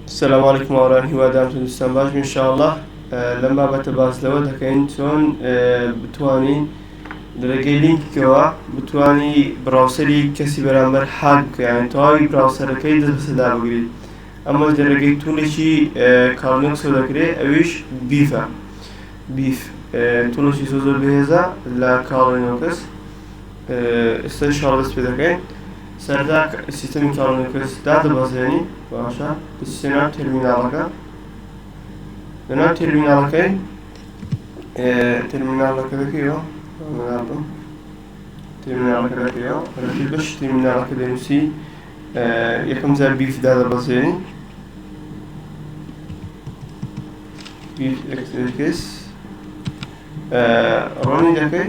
سلام علیکم هاوران هیوادارم تەندروستان باش بی انشاءاللە لەم بابەتە باس لەوە دەکەین چۆن بتوانین لەرێگەی لینکەوە بتانی براوسەری کەسی بەرامبەر حاک بکەیان تەواوی براوسەرەکەی دەستدا بگریت ئەمە لەرێگەی توڵێکی کارنکسۆ دەکرێت ئەویش بیفە بیف توڵێکی زۆ زۆر بەهێزە لە کاڵێنەوە کەس ئێستا شاڵست پێ دەکەین سەرەتا کە سیستەمی چاوەڕێی پرس دادەبەزێنین باشە دەچیتە ناو تێرمیناڵەکە لە ناو تێرمیناڵەکەی تێرمیناڵەکە دەکەیەوە بم تێرمیناڵەکە دەکەیەوە ڕژی بەش تێرمیناڵەکە دەنووسی یەکەم جار بیف دادەبەزێنین بیف ئەکترکس ڕۆنی دەکەی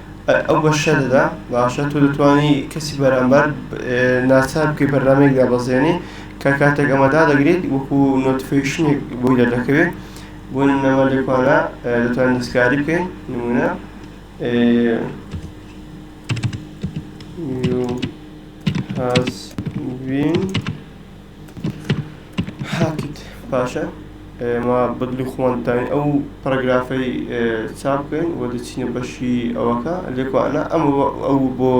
ئەو بەشە دەدا باشە تۆ دەتوانی کەسی بەرامبەر ناچار بکەی بەرنمەیەک دابەزێنی کە کاتێک ئەمە دادەگریت وەکو نۆتفیشنێک بۆی دەردەکەوێت بۆ نەمە لێکوانە دەتوان دەستکاری بکەین نمونە has been هاتیت پاشە ئێمە بەدلی خۆمان داین ئەو پەرگرافەی چاپ بکەین و دەچینە بەشی ئەوەکە لێکوانە ئەم ئەو بۆ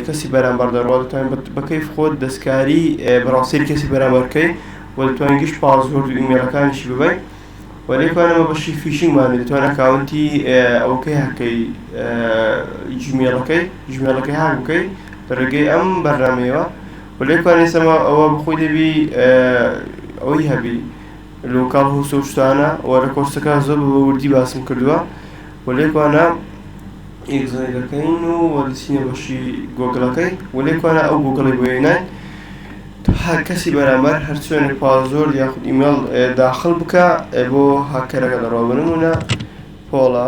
کەسی بەرامبەر دەڕوات دەتوانین بەکەیف خۆت دەستکاری بڕاوسەری کەسی بەرامبەرکەی و دەتوانین گشت پاسۆرد و ئیمێلەکانیشی ببین و لێکوانەوە بەشی فیشینگمان دەتوان ئەکاونتی ئەوکەی هەکەی جمێڵەکەی جمێڵەکەی هاک بکەی لە ڕێگەی ئەم بەرنمەیەوە ولێ پارێزەوە ئەوە بەخۆی دەبی ئەوەی هەبی لۆکاڵ هۆست و شتانە و لە کۆرسەکە زۆر بە وردی باسم کردووە ولێ کوانە ئیگزای دەکەین و وەدەچینە بەشی گۆگڵەکەی ولێ کوانە ئەو گۆگڵی بۆ هێناین هەر کەسی بەرامبەر هەر چۆنێک پازۆر یاخود ئیمێڵ داخل بکە بۆ هاککەرەکە دەڕۆ بنمونە پۆڵە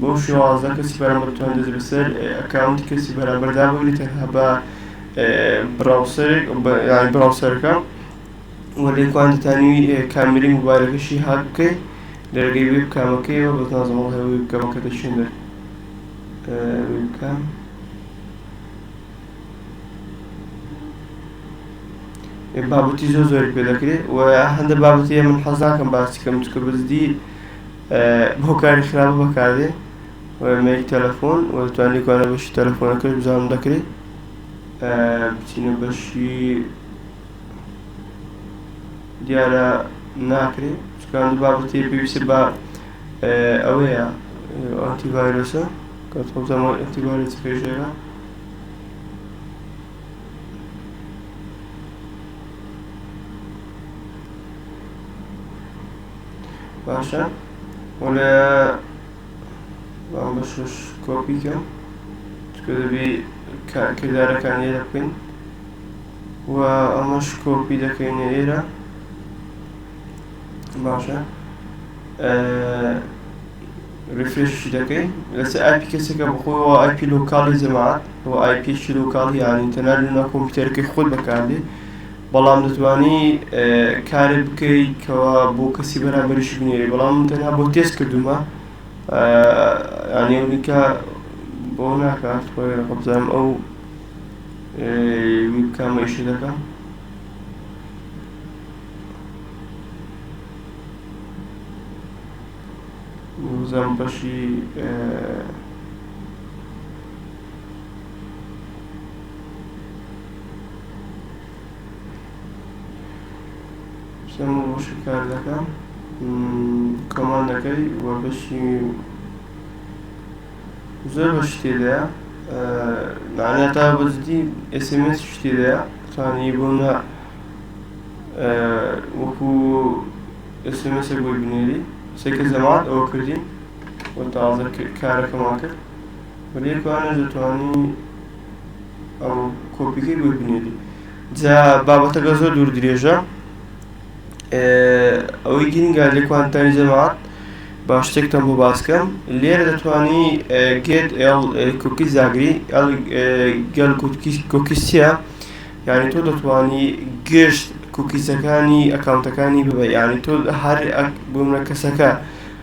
بۆ شێوازە کەسی بەرامبەر بتوان دەست بەسەر ئەکاونتی کەسی بەرامبەر دابگری تەنها بە براوسەرێک یان براوسەرەکە و لێکوان دەتانی کامری موبایلەکەشی هاک بکەی لەرگەی وێب کامەکەیەوە بە تازەمەڵ هەوە وێب کامەکە دەچێن دەر وێب کام بابەتی زۆر زۆر پێ دەکرێت و هەندە بابەتی من حەزاکەم باسی کەم چکە بزدی بۆ کاری خراپە بەکاردێ مێری تەلەفۆن و دەتوان لێکوانە بەشی تەلەفۆنەکەش بزانم دەکرێت بچینە بەشی دیارە ناکرێت چکان بابەتی پێویستە بە ئەوەیە ئەنتیڤایرۆسە کە تۆزەمە ئەنتیڤایرۆس پێشێرە باشە وەلێ بەشش کۆپیکەم چکە دەبی کردارەکان ئێرە بکەین و ئەمەش کۆپی دەکەینە ئێرە باشە ریفرشی دەکەین لەسەر ئایپی کەسێکە بخۆی و ئایپی لۆکالی جەماعات و ئایپی لۆکالی یانی تەنار لە کۆمپیوتەرەکەی خۆت بەکاردی بەڵام دەتوانی کارێک بکەی کەوا بۆ کەسی بەرامبەریش بنێری بەڵام من تەنها بۆ تێست کردومە یانیونیکە بۆ ناکات خۆی قبزانم ئەو ویبکامەیش دەکەم وزەم بەشی کێم و وشک کار دەکەن کۆمان دەکەی و بەشی زۆر بە شتی دەیە معنە تا بەجدی ئسمس شتی دەیە توانی بوونە وەکو ئسمسێک بۆی بنێری سێکە زەمات ئەوە کردین و تازە کارەکەمان کرد وەلیەکوانە دەتوانی ئەم کۆپیکەی بۆی بنێری جا بابەتەکە زۆر دوور درێژە ئەوەی گرنگە لە کوانتانی جەماعات با شتێکتان بۆ باسکەم لێرە دەتوانی گێت کوکی زاگری گەل کوکیسیە یعنی تۆ دەتوانی گشت کوکیسەکانی ئەکاونتەکانی ببە یعنی تۆ هەر بوومە کەسەکە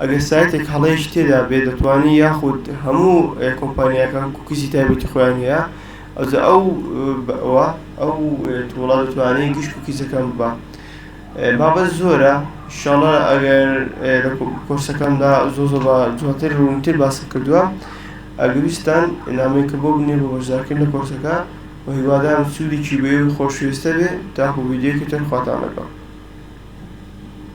ئەگەر سایتێک هەڵەیەکی تێدا بێت دەتوانێت یاخود هەموو کۆمپانیاکان کوکیزی تایبەتی خۆیان هەیە ئەوجا ئەو بەوە ئەو تووڵە دەتوانێت گشت کوکیزەکان ببا بابەت زۆرە شڵە ئەگەر لە کۆرسەکاندا زۆ زۆ بە جواتر ڕوونتر باسم کردووە ئەگەویستان نامێکە بۆ بنێ بۆ بەشدارکرد لە کۆرسەکە و هیوادارم سوودێکی بێ و خۆشویستە بێ تاخۆ ویددیوکە تر خواتان لەگەڵ